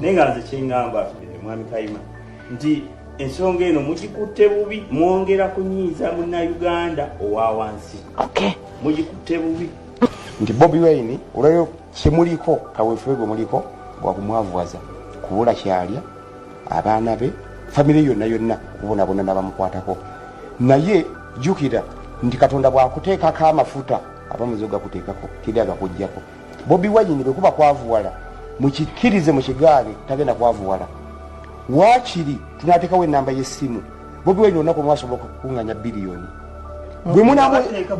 naye nga nze kyengamba mwami kayima nti ensonga eno mugikutte bubi mwongera kunyiiza munnauganda owa wansi mugikutte bubi nti bobi wine olwayo kyemuliko kawefube gwe muliko gwakumwavuwaza kubula kyalya abaana be famire yonna yonna kubonabona nabamukwatako naye jukira nti katonda bwakuteekako amafuta aba muzo gakuteekako teri agakujjako bobi wayini bwekuba kwavuwala mukikkirize mukigaale tagenda kwavuwala wakiri tunatekawo enamba yesimu bobi wayini olunaku mwasobola okukunganya biliyoni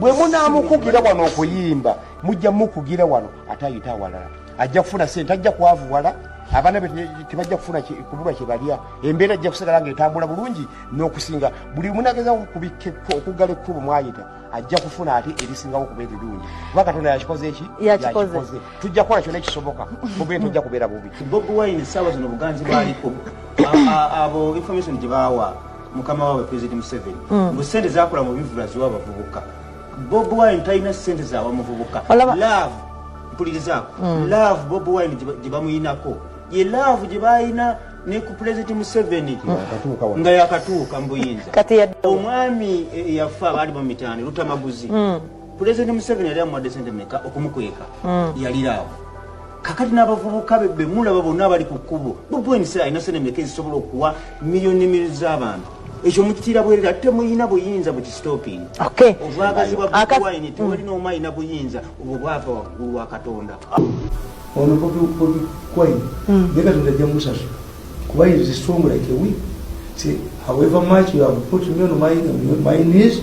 bwemunamukugira wano okuyimba mujja mukugira wano ate ayita awalala ajja kufuna sente ajja kwavuwala abaana be tebajja kufuna kubulwa kyebalya embeera ajja kusigala nga etambula bulungi n'okusinga buli munageza okubikka okuggala ekkubo mwayita ajja kufuna ate erisingawo okuba erirungi kuba katonda yakikoze eki yakikoze tujja kukola kyona ekisoboka mubee tojja kubeera bubi bobi wine essaawa zino obuganzi bwaliko abo information gye baawa mukama waabwe president museveni mbu hmm. sente zakola mu bivula ziwa abavubuka Bob Wine talina ssente za bamuvubuka love mpulirizaako mm. love Bob Wine gye bamuyinako ye love gye balina ne ku pulezidenti museveni mm. nga yakatuuka mu buyinza omwami e, e, yafa baali mu mitaani lutamaguzi mm. pulezidenti museveni yali amuwadde sente meka okumukweka yaliraawo kakati n'abavubuka be be mulaba bonna abali ku kkubo bobi wine sera alina sente meka ezisobola okuwa miliyoni ne miliyoni z'abantu ekyo mukitiira bwerere ate muyina buyinza bukistoping obwagazi bwa bobi wine tewalina omu alina buyinza obwo bwava waggulu wa katonda ono bobi wine hmm. ye katonda ajja musaso kuba is strong like a week see however much you have put me on my, my knees